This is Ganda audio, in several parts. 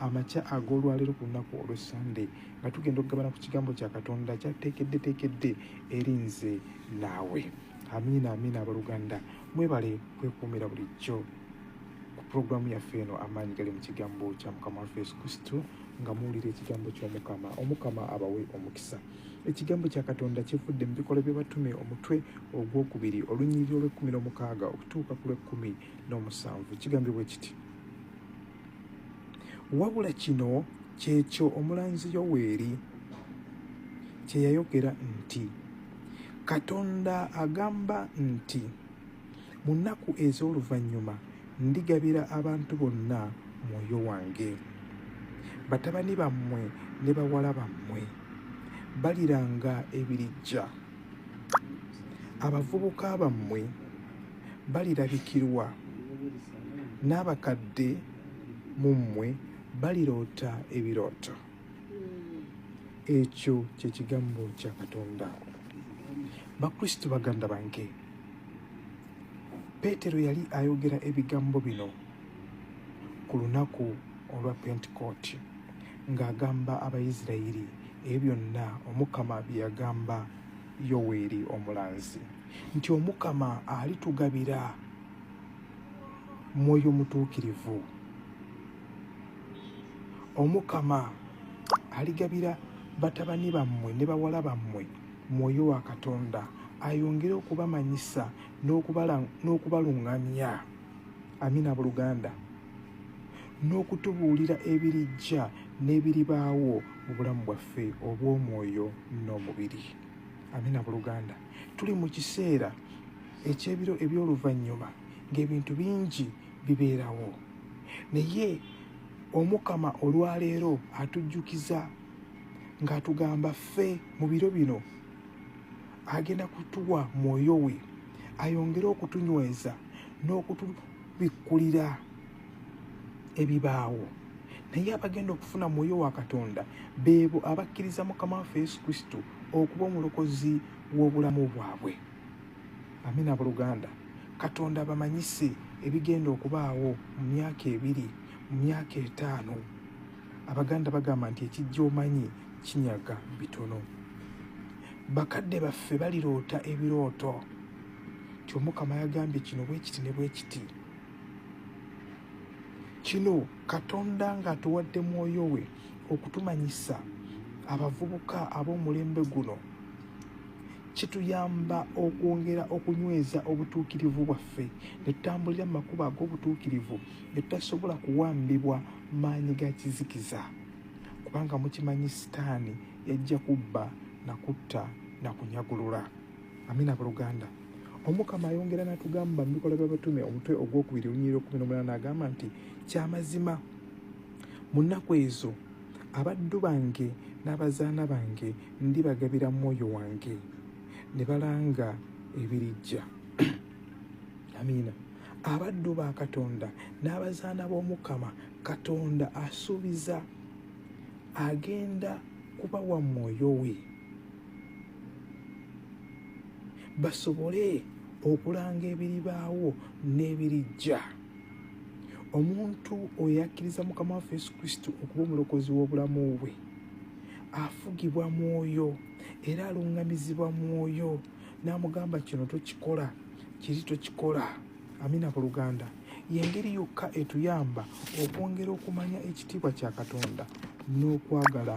amakya ag'olwaleero ku lunaku olwe sande nga tugenda okugabana ku kigambo kya katonda kyateekedde teekedde eri nze naawe amiina amiina abaluganda mwebale kwekuumira bulijjo ku pulogulaamu yaffe eno amaanyi gali mu kigambo kya mukama waffe yesu kristo nga muwulira ekigambo ky'omukama omukama abawe omukisa ekigambo kya katonda kivudde mu bikolwa by'abatume omutwe ogwokubiri olunyiriri olw'ekkumi n'omukaaga okutuuka ku lw'ekkumi n'omusanvu kigambibwa ekiti wabula kino kyekyo omulanzi yoweeri kye yayogera nti katonda agamba nti mu nnaku ez'oluvannyuma ndigabira abantu bonna mwoyo wange batabani bammwe ne bawala bammwe baliranga ebirijja abavubuka bammwe balirabikirwa n'abakadde mu mmwe baliroota ebirooto ekyo kye kigambo kya katonda bakristo baganda bange peetero yali ayogera ebigambo bino ku lunaku olwa pentekooti ng'agamba abayisirayiri ebyo byonna omukama bye yagamba yoweeri omulanzi nti omukama alitugabira mwoyo mutuukirivu omukama aligabira batabani bammwe ne bawala bammwe mwoyo wa katonda ayongere okubamanyisa n'okubaluŋŋamya amina buluganda n'okutubuulira ebirijja n'ebiribaawo mu bulamu bwaffe obw'omwoyo n'omubiri amina buluganda tuli mu kiseera ekyebiro eby'oluvannyuma ng'ebintu bingi bibeerawo naye omukama olwaleero atujjukiza ng'atugamba ffe mu biro bino agenda kutuwa mwoyo we ayongere okutunyweza bikkulira ebibaawo naye abagenda okufuna mwoyo wa katonda beebo abakkiriza mukama waffe yesu kristo okuba omulokozi w'obulamu bwabwe amina buluganda katonda bamanyise ebigenda okubaawo mu myaka ebiri mu myaka etaano abaganda bagamba nti ekijja omanyi kinyaga bitono bakadde baffe baliroota ebirooto nti omukama yagambye kino bwekiti ne bwekiti kino katonda ng'atuwadde mwoyo we okutumanyisa abavubuka ab'omulembe guno kituyamba okwongera okunyweza obutuukirivu bwaffe ne tutambulira mu makubo ag'obutuukirivu ne tutasobola kuwambibwa maanyi ga kizikiza kubanga mukimanyi sitaani yajja kubba na kutta na kunyagulula amina abooluganda omukama ayongera n'atugamba mu bikolwa by'abatume omutwe ogwokubiri olunyiriro kumi n'omunana agamba nti kyamazima mu nnaku ezo abaddu bange n'abazaana bange ndibagabira mwoyo wange ne balanga ebirijja amiina abaddu ba katonda n'abazaana b'omukama katonda asuubiza agenda kubawa mwoyo we basobole okulanga ebiribaawo n'ebirijja omuntu oyo akkiriza mukama waffe yesu kristo okuba omulokozi w'obulamu bwe afugibwa mwoyo era alungamizibwa mwoyo n'amugamba kino tokikola kiri tokikola amina ku luganda yengeri yokka etuyamba okwongera okumanya ekitiibwa kya katonda n'okwagala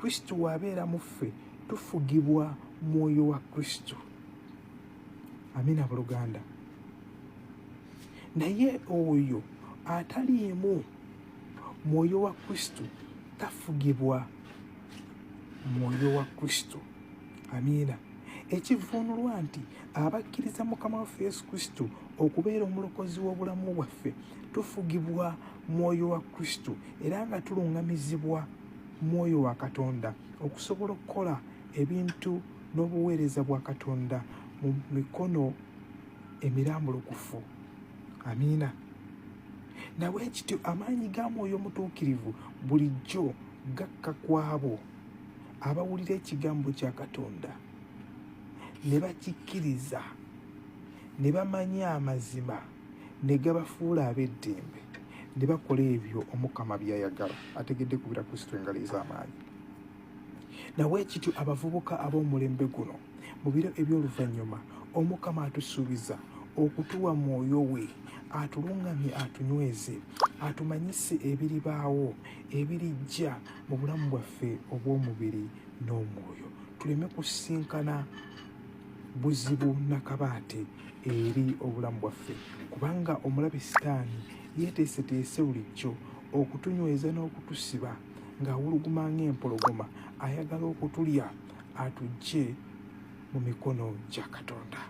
kristo wabeera mu ffe tufugibwa mwoyo wa kristo amina buluganda naye oyo ataliimu mwoyo wa kristo tafugibwa mwoyo wa kristo amiina ekivuunulwa nti abakkiriza mukama waffe yesu kristo okubeera omulokozi w'obulamu bwaffe tufugibwa mwoyo wa kristo era nga tulungamizibwa mwoyo wa katonda okusobola okukola ebintu n'obuweereza bwa katonda mu mikono emirambulukufu amiina nawe ekityo amaanyi ga mwoyo omutuukirivu bulijjo gakka ku abo abawulira ekigambo kya katonda ne bakikkiriza ne bamanya amazima ne gabafuula ab'eddembe ne bakola ebyo omukama byayagala ategedde kubira kristo engalo ez'amaanyi nawe ekityo abavubuka ab'omulembe guno mu biro eby'oluvannyuma omukama atusuubiza okutuwa mwoyo we atulungamye atunyweze atumanyise ebiribaawo ebirijja mu bulamu bwaffe obw'omubiri n'omwoyo tuleme kusinkana buzibu nakabaate eri obulamu bwaffe kubanga omulabi sitaani yeeteeseteese bulijjo okutunyweza n'okutusiba ng'awuluguma ng'empologoma ayagala okutulya atujje mu mikono gya katonda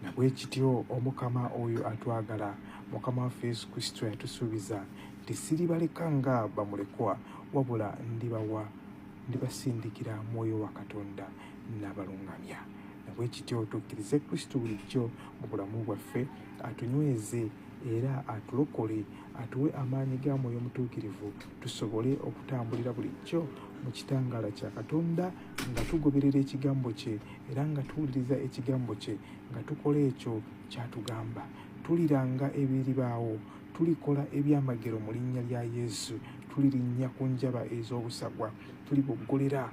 nabwe kityo omukama oyo atwagala mukama waffe yesu kristo yatusuubiza nti siribaleka nga bamulekwa wabula ndibawa ndibasindikira mwoyo wa katonda nabalungamya bwekityo tukkirize kristo bulijjo mu bulamu bwaffe atunyweze era atulokole atuwe amaanyi ga mwoyo mutuukirivu tusobole okutambulira bulijjo mu kitangaala kya katonda nga tugoberera ekigambo kye era nga tuwuliriza ekigambo kye nga tukola ekyo kyatugamba tuliranga ebiribaawo tulikola ebyamagero mu linnya lya yesu tulirinnya ku njaba ez'obusagwa tuliboggolera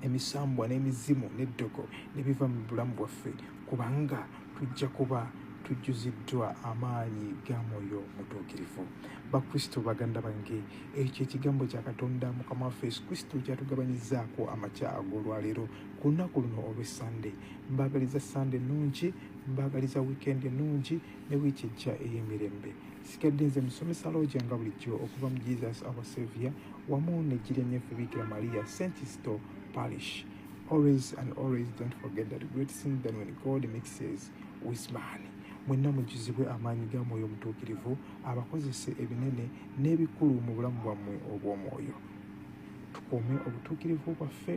emisambwa n'emizimu n'eddogo ne biva mu bulamu bwaffe kubanga tujja kuba tujjuziddwa amaanyi ga mwoyo mutuukirivu bakristo baganda bange ekyo ekigambo kya katonda mukama waffe yesu kristo kyatugabanyizaako amakya ag'olwaleero ku lunaku luno olw'essande mbaagaliza sande ennungi mbaagaliza wiikendi ennungi ne wiiki ejja ey'emirembe sigadde nze musomesa looja nga bulijjo okuva mu jesus our savior wamu nejjira enyeffe bikira maria st isto parish always and always don't forget that great sin than when god mixes with man mwenna mujuzibwe amaanyi ga mwoyo omutuukirivu abakozese ebinene n'ebikulu mu bulamu bwammwe obw'omwoyo tukuume obutuukirivu bwaffe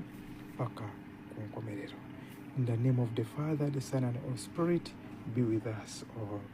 paka ku nkomerero in the name of the father the son and all spirit be with us all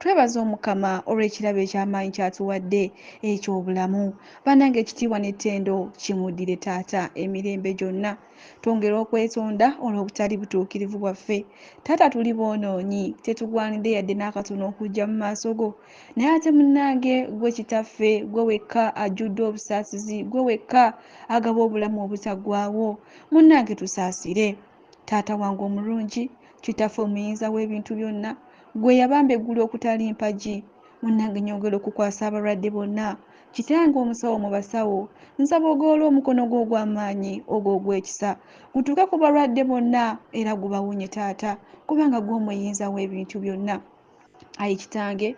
Twebaza omukama olw'ekirabo eky'amaanyi ky'atuwadde eky'obulamu. Banange ekitiibwa n'ettendo kimuddire taata emirembe gyonna. Twongera okwetonda olw'obutali butuukirivu bwaffe. Taata tuli boonoonyi, tetugwanidde yadde n'akatono okujja mu maaso go. Naye ate munange gwe kitaffe, gwe wekka ajjudde obusaasizi, gwe wekka agaba obulamu obutaggwaawo. Munange tusaasire. Taata wange omulungi, Kitaffe omuyinza w'ebintu byonna, Ggwe eyabamba eggulu okutali mpagi, Munnange nyongera okukwasa abalwadde bonna, Kitange omusawo mu basawo, Nsaba ogolole omukono gwo ogw'amaanyi, ogwo ogw'ekisa, Gutuuke ku balwadde bonna era gubawonye Taata, kubanga ggwe omuyinza w'ebintu byonna. Ayi Kitange,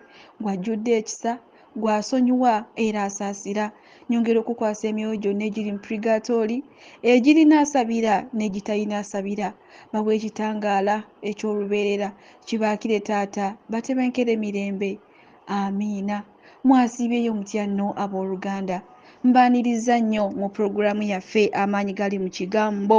gwe ajjudde ekisa, gwe asonyiwa era asaasira, nyongera okukwasa emyoyo gyonna egiri mu purigaatooli, egirina asabira n'egitalina asabira, bawe ekitangaala eky'olubeerera. Kibaakire, Taata, batebenkere mirembe. Amiina. Mwasiibyeyo mutya nno, ab'oluganda? Mbaanirizza nnyo mu programu yaffe Amaanyi Gali mu Kigambo.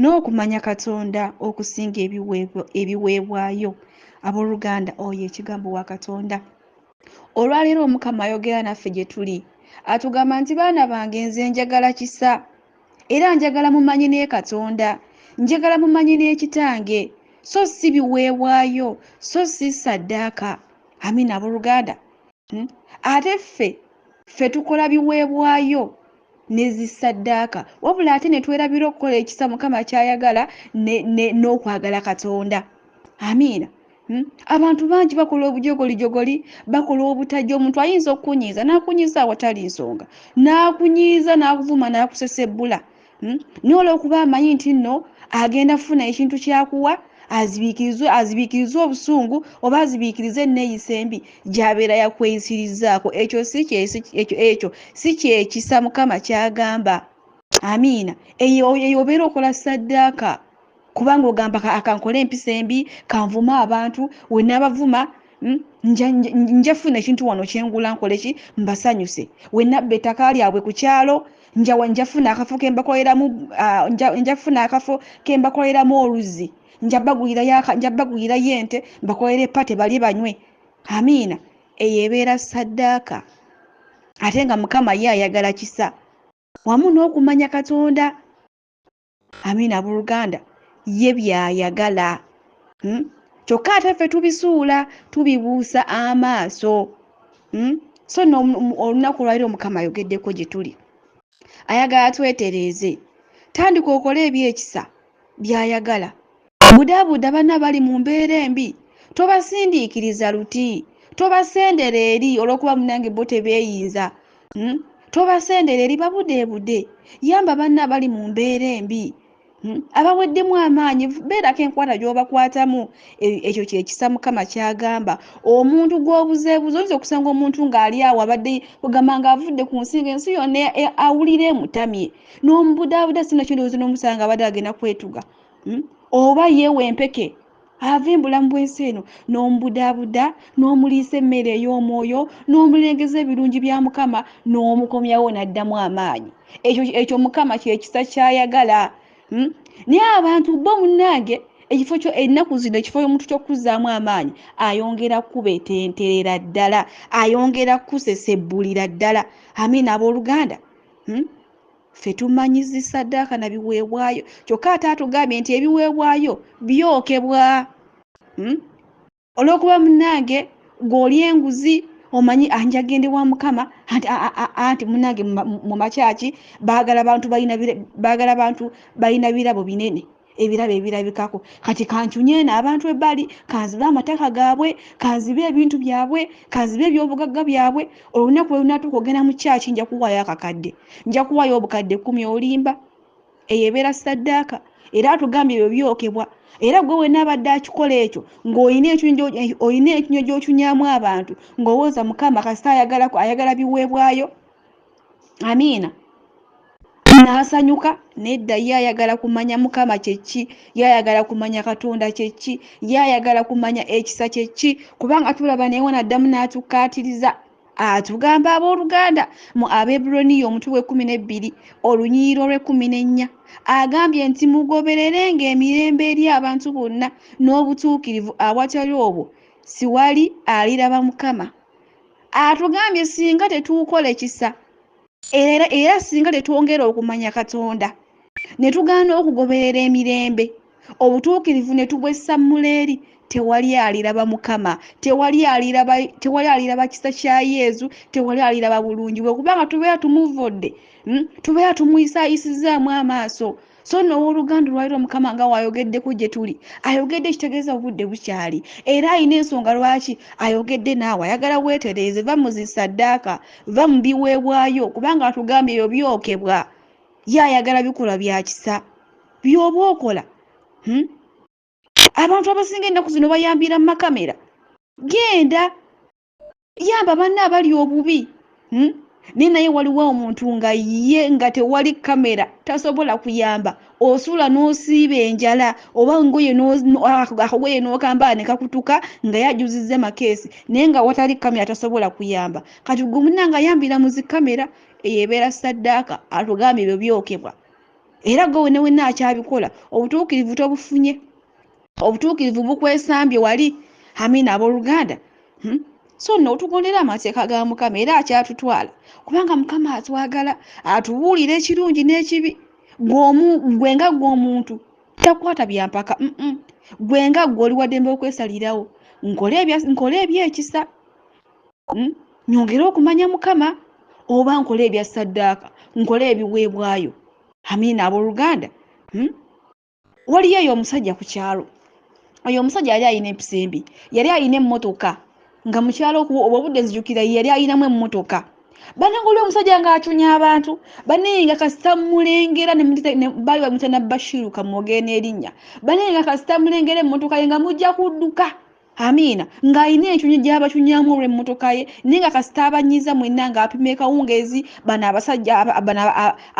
n'okumanya katonda okusinga ebiweebwayo abooluganda oyo ekigambo wa katonda olwaleero omukama ayogera naffe gye tuli atugamba nti baana bange nze njagala kisa era njagala mumanyi ne katonda njagala mumanyi n'ekitange so si biweebwayo so si saddaaka amina abooluganda hmm? ate ffe ffe tukola biweebwayo nezisaddaaka wabula ate netwerabira okukola ekisa mukama kyayagala n'okwagala katonda amiina hmm? abantu bangi bakola obujogolijogoli bakola obutajja omuntu ayinza okukunyiiza n'akunyiiza awatali nsonga n'akunyiiza n'akuvuma n'akusesebbula hmm? naye olwokuba amanyi nti nno agenda kufuna ekintu kyakuwa azibiikirizwe azibiikirizwe obusungu oba azibiikirize enneeyisa embi gyabeera yakweyisirizaako ekyo ekyo si kyekisa mukama kyagamba amiina eyo obeera okola saddaaka kubanga ogamba kankole empisa embi kanvuma abantu wenabavuma hmm, nja funa ekintu wano kyengula nkoleki mbasanyuse wenabba ettaka lyabwe ku kyalo njawa njafuna akafo kembakoleramu ah, njafuna akafo kembakoleramu oluzzi njabagulirayo ente mbakolera epate bali banywe amiina eyo ebeera saddaaka ate nga mukama ye ayagala kisa wamu n'okumanya katonda amiina abooluganda ye by'ayagala hmm? kyokka ate ffe tubizuula tubibuusa amaaso hmm? so no olunaku olwaliro omukama ayogeddeko gye tuli ayagala twetereeze tandika okole ebyekisa by'ayagala Budaabuda banno abali mu mbeera embi, tobasindiikiriza luti, tobasendera eri olw'okuba munnange bo tebeeyinza, hmm, tobasendera eri, babudeebude, yamba banno abali mu mbeera embi, hmm, abaweddemu amaanyi, beerako enkwata gy'obakwatamu, e, ekyo kye kisa Mukama ky'agamba. Omuntu gw'obuzeebuze, oyinza okusanga omuntu ng'ali awo abadde ogamba ng'avudde ku nsi, ng'ensi yonna e, awulira emutamye, n'omubudaabuda, sinakyo ndowooza n'omusanga abadde agenda kwetuga. hmm? oba yeewa empeke ava embulamu bw'ensi eno n'omubudaabuda n'omuliisa emmere ey'omwoyo n'omulengeza ebirungi bya mukama n'omukomyawo n'addamu amaanyi ekyo ekyo mukama kyekisa kyayagala hmm? naye abantu bo munnange ekifo kyo ennaku zino ekifo omuntu kyokukuzaamu amaanyi ayongera kukubetenterera ddala ayongera kukusesebbulira ddala amiina abooluganda hmm? ffe tumanyi zi saddaaka na biweebwayo kyokka ate atugambye nti ebiweebwayo byokebwa hmm? olwokuba munange gweoli enguzi omanyi anjagende wa mukama anti munange mu makyaki bagala bantu balina birabo binene ebirabo ebirabikako kati kancunyena abantu ebbali kanzibe amataka gaabwe kanzibe ebintu byabwe kanzibe ebyobugagga byabwe olunaku lwelunatuuka ogenda mu kyaki nja kuwaayo akakadde nja kuwaayo obukadde kumi olimba eyo ebeera saddaaka era atugambye ebyo byokebwa era gwe wena abadde akikola ekyo ngaolina ekinywa gyokyunyamu abantu ngaowooza mukama kasita ayagala biweebwayo amiina n'asanyuka nedda ye ayagala kumanya mukama kyekki ye ayagala kumanya katonda kyekki ye ayagala kumanya ekisa kyekki kubanga tulaba naye wanaddamu n'atukkaatiriza atugamba abooluganda mu abeburoniya omutwe gw'ekkumi n'ebbiri olunyiriro lw'ekkumi n'ennya agambye nti mugoberere ng'emirembe eri abantu bonna n'obutuukirivu awatali obwo siwali aliraba mukama atugambye singa tetuukole kisa era era singa tetwongera okumanya katonda ne tugaana okugoberera emirembe obutuukirivu ne tubwessamula eri tewali aliraba mukama tewali aliraba tewali aliraba kisa kya yezu tewali aliraba bulungi bwe kubanga tubeera tumuvodde hmm, tubeera tumuyisayisizaamu amaaso so no owoluganda olwaliro mukama nga wayogeddeko gye tuli ayogedde ekitegeeza obudde bukyali era alina ensonga lwaki ayogedde naawe ayagala weetereeze va mu zisaddaaka va mu biweebwayo kubanga atugambye ebyo byokebwa ye ayagala bikolwa bya kisa byoba okola hmm? abantu abasinga ennaku zino bayambira mu makamera genda yamba banna abali obubi hmm? naye naye waliwo omuntu nga ye nga tewali kamera tasobola kuyamba osula n'osiiba enjala oba ngoye ah, akogoye n'okambala ne kakutuka nga yajuzizza makeesi naye nga watali kamera tasobola kuyamba kati gwe munna nga yambira mu zi kamera eyo ebeera saddaaka atugambye ebyo byokebwa era gwe wenewenna akyabikola obutuukirivu tobufunye obutuukirivu bukwesambye wali amina abooluganda hmm? so nno otugondera amateeka ga mukama era akyatutwala kubanga mukama atwagala atubuulira ekirungi n'ekibi gwe nga gwe omuntu takwata byampaka gwe nga gwe oli waddembe okwesalirawo nkole ebyekisa hmm? nyongere okumanya mukama oba nkole ebya saddaaka nkole ebiweebwayo amina abooluganda hmm? waliyo eyo omusajja ku kyalo oyo omusajja yali alina empisa embi yali alina emmotoka nga mukyalo obwo obudde nzijukira yali alinamu emmotoka banange oli omusajja ng'acunya abantu banaye nga kasita mulengera bali bamutana bashiru kamwogere n'erinnya banaye nga kasita mulengera emmotoka ye nga mujja kudduka Amiina ng'alina encuny gy'abacunyaamu olw'emmotoka ye naye nga kasita abanyiiza mwenna ng'apima ekawungeezi bano abasajja bano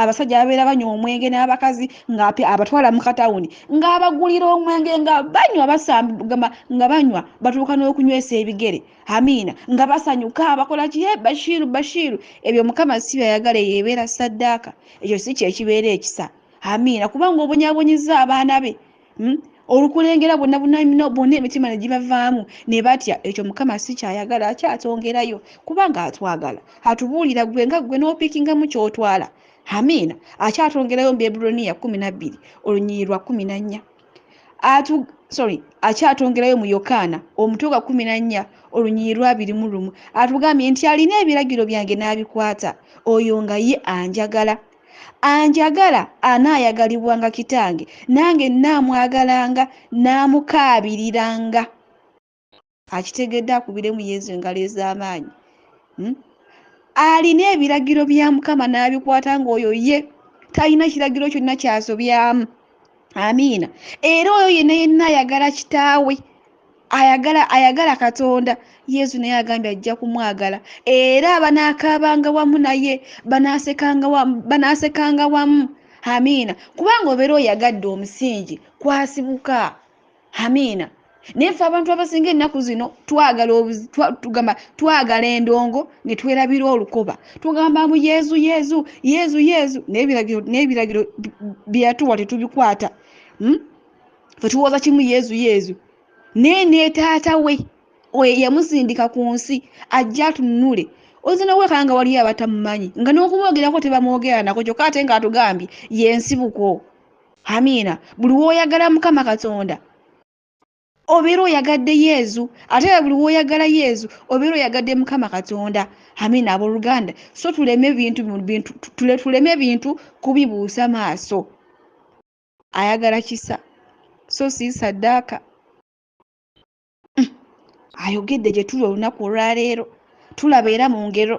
abasajja ababeera banywa omwenge n'abakazi ng'api abatwala mu katawuni ng'abagulira omwenge nga banywa basamba nga banywa batuuka n'okunywesa ebigere amiina nga basanyuka bakola kiye bashiiru bashiiru ebyo mukama si byayagala eyo ebeera saddaaka ekyo si kyekibeera ekisa amiina kubanga obonyabonyezza abaana be Hmm? olukulengera bonna bunamino bonna emitima ne gibavaamu ne batya ekyo mukama si kyayagala akyatongerayo kubanga atwagala atubuulira gwe nga gwe n'opikingamu ky'otwala amiina akyatongerayo mu beburoniya kumi na bbiri olunyiri lwa kumi na nnya atu sorry akyatongerayo mu yokaana omutwe gwa kumi na nnya olunyiri lwabiri mu lumu atugambye nti alina ebiragiro byange n'abikwata oyo nga ye anjagala Anjagala anaayagalibwanga Kitange, nange nnaamwagalanga nnaamukaabiriranga. Akitegedde akubiremu Yezu engalo ez'amaanyi. Hmm? Alina ebiragiro bya Mukama n'abikwata ng'oyo ye talina kiragiro kyonna ky'asobyamu. amiina era oyo yenna yenna ayagala kitaawe ayagala ayagala katonda yesu naye agambye ajja kumwagala era banaakaabanga wamu naye banaasekanga wamu amiina kubanga obeera oyagadde omusingi kwasibuka amiina naye ffe abantu abasinga ennaku zino twagala tugamba twagala endongo ne twerabira olukoba tugamba mu yezu yezu yezu yezu n'ebiragiro byeyatuwa tetubikwata hmm? fe tuwooza kimu yezu yezu naye netaata we oyo yamusindika ku nsi ajja atunule oyinza noweka nga waliyo abatamumanyi nga n'okumwogerako tebamwogeranako kyokka ate nga atugambye yensibuko amiina buli woyagala mukama katonda obeera oyagadde yezu ate era buli woyagala yezu obeera oyagadde mukama katonda amiina aboluganda so tuleme bintu bintu tuleme bintu kubibuusa maaso ayagala kisa so si saddaaka hmm. ayogedde gye tuli olunaku olwaleero tulaba era mu ngero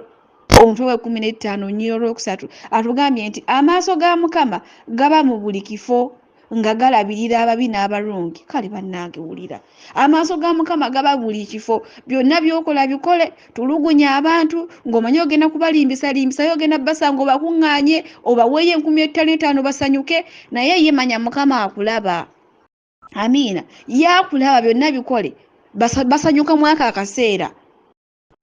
omutwe w'ekumi n'ettaano nnyira olwokusatu atugambye nti amaaso ga mukama gaba mu buli kifo nga galabirira ababi n'abalungi kale bannange wulira amaaso ga mukama gaba buli kifo byonna byokola bikole tulugunya abantu ng'omanyi ogenda kubalimbisa limbisayo ogenda basanga obakuŋŋaanye obaweeyo enkumi ettano etaano basanyuke naye ye manya mukama akulaba amiina yakulaba byonna bikole basanyuka mwaka akaseera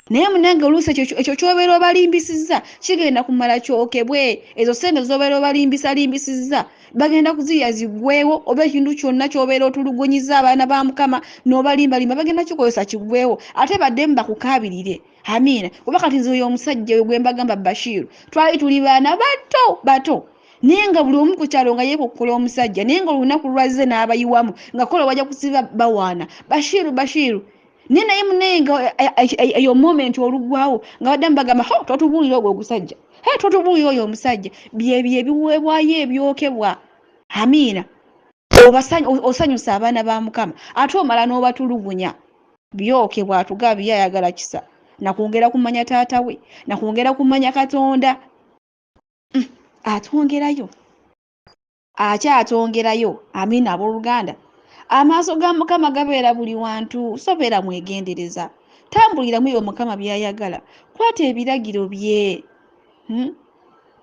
naye munange oluusi ekyo kyobeera obalimbisizza kigenda kumala kyokebwe ezo sente zobeera obalimbisalimbisizza bagenda kuzirya ziggwewo oba ekintu kyonna kyobeera otulugunyiza abaana ba mukama nobalimbalimba bagenda kikozesa kiggwewo ate baddemu bakukaabirire amiina kuba kati nze oyo omusajja oyo gwembagamba bashiru twali tuli baana bato bato naye nga buli omu ku kyalo nga yekokkola omusajja naye nga olunaku lwazze n'abayiwamu nga kola wajja kusiba bawaana bashiiru bashiiru naye naye munaye nga eh, eh, eh, eyo moment olugwawo nga baddamu bagamba ho totubuulira ogwo ogusajja he totubuulira oyo omusajja byebyo ebiweebwayo ebyokebwa amiina osanyusa abaana ba mukama ate omala n'obatulugunya byokebwa atugabye ayagala kisa nakwongera kumanya taata we nakwongera kumanya katonda mm, atwongerayo akyatwongerayo amiina abooluganda amaaso ga mukama gabeera buli wantu sobeera mwegendereza tambuliramu ebyo mukama byayagala kwata ebiragiro bye hmm?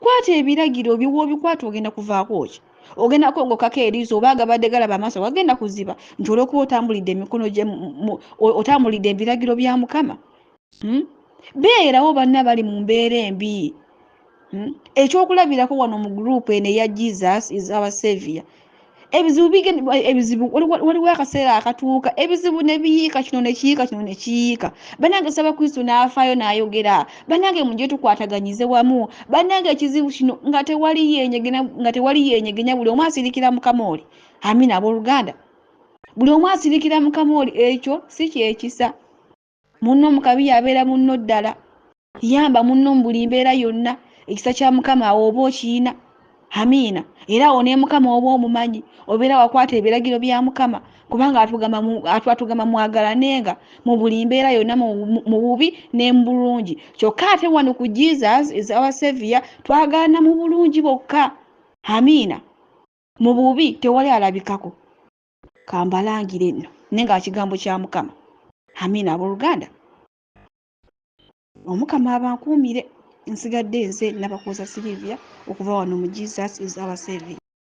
kwata ebiragiro bye woobikwata ogenda kuvaako ki ogenda kwongokako eriiso oba agabadde galaba amaaso wagenda kuziba nti olwokuba otambulidde emikono gye otambulidde ebiragiro bya mukama Hmm? beerawo banna bali mu mbeera embi hmm? ekyokulabirako wano mu gurupu eno eya jesus is our savior ebizibu ebizibu waliwo akaseera akatuuka ebizibu nebiyiika kino nekiyiika kino nekiyiika banange saba kristo n'afaayo n'ayogera banange muje tukwataganyize wamu banange ekizibu kino nga tewali yenyegena nga tewali yenyegenya buli omu asirikira mukama oli amina abooluganda buli omu asirikira mukama oli ekyo si kyekisa munno mu kabi y'abeera munno ddala yamba munno mu buli mbeera yonna ekisa kya mukama awo oba okiyina amiina era awo ne mukama oba omumanyi obeera wakwata ebiragiro bya mukama kubanga atugamba mwagalanenga mu buli mbeera yonna mu bubi ne mu bulungi kyokka ate wano ku jesus is our savior twagalana mu bulungi bokka amiina mu bubi tewali alabikako kambalangire nno naye nga kigambo kya mukama amiina abooluganda omukama abankuumire nsigadde nze nabakuuza silivia okuva wano mu jesus is our saving